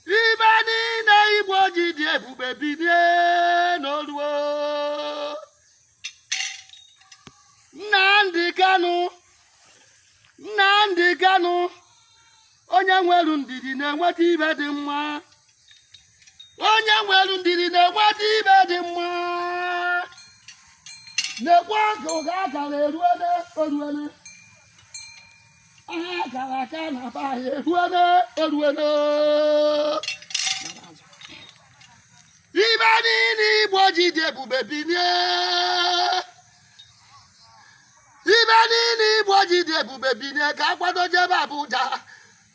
ibe niile Igbo ji dị ebube bilie na o ruo Nnamdi Kanu Nnamdi Kanu onye nwere ndidi na-enweta ibe dị mma onye nwere ndidi na-enweta ibe dị mma na-ekwu aka ụga akara eruele oruele ibe niile igbo ji dị ebube bilie ibe niile igbo ji dị ebube bilie ka akwado jebe Abuja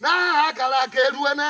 na aha akara aka eruene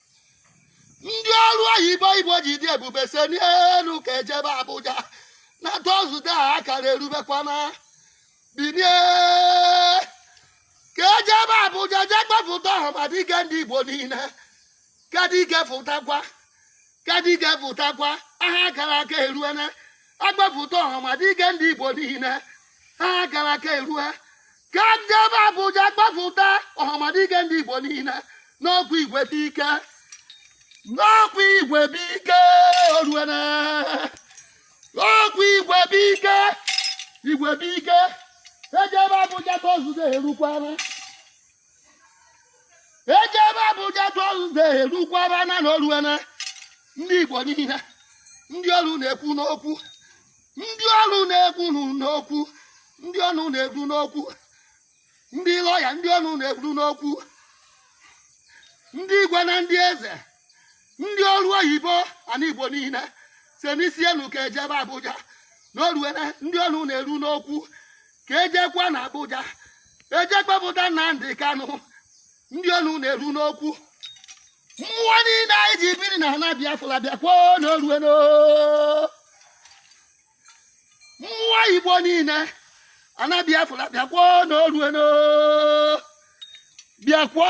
ndị ọrụ oyibo igbo ji dị ebube senie enu ka ejebe abuja na Thursday aha akara erubekwana binie ka ejebe abuja jee kpefụta Ọhamadike ndị igbo niile ka dike fụtakwa ka dike fụtakwa aha akara aka eruene ekpefụta Ọhamadike ndị igbo niile aha akara aka erue ka ejebe Abuja gbapụta Ọhamadike ndị Igbo niile n'ọkwa igwe bụ ike n'ọkwa igwe bụ ike oruene n'ọkwa igwe bụ ike igwe bụ ike ejebe Abuja Thursday erukwana ejebe Abuja Thursday erukwana na oruene ndị Igbo niile ndị ọnụ na-eru n'okwu ndị ọnụ na-eru n'okwu ndị ọnụ na-eru n'okwu ndị lọya ndị ọnụ na-eru n'okwu ndị igwe na ndị eze ndị ọrụ oyibo ana igbo niile senie isi enu ka ejebe abuja na oruene ndị ọnụ na-eru n'okwu ka ejekwa na abuja eje kpepụta Nnamdi Kanu ndị ọnụ na-eru n'okwu mmụọ niile anyị ji biri na ana biafra bịakwa na oruene mmụọ igbo niile ana biafra bịakwa na oruene bịakwa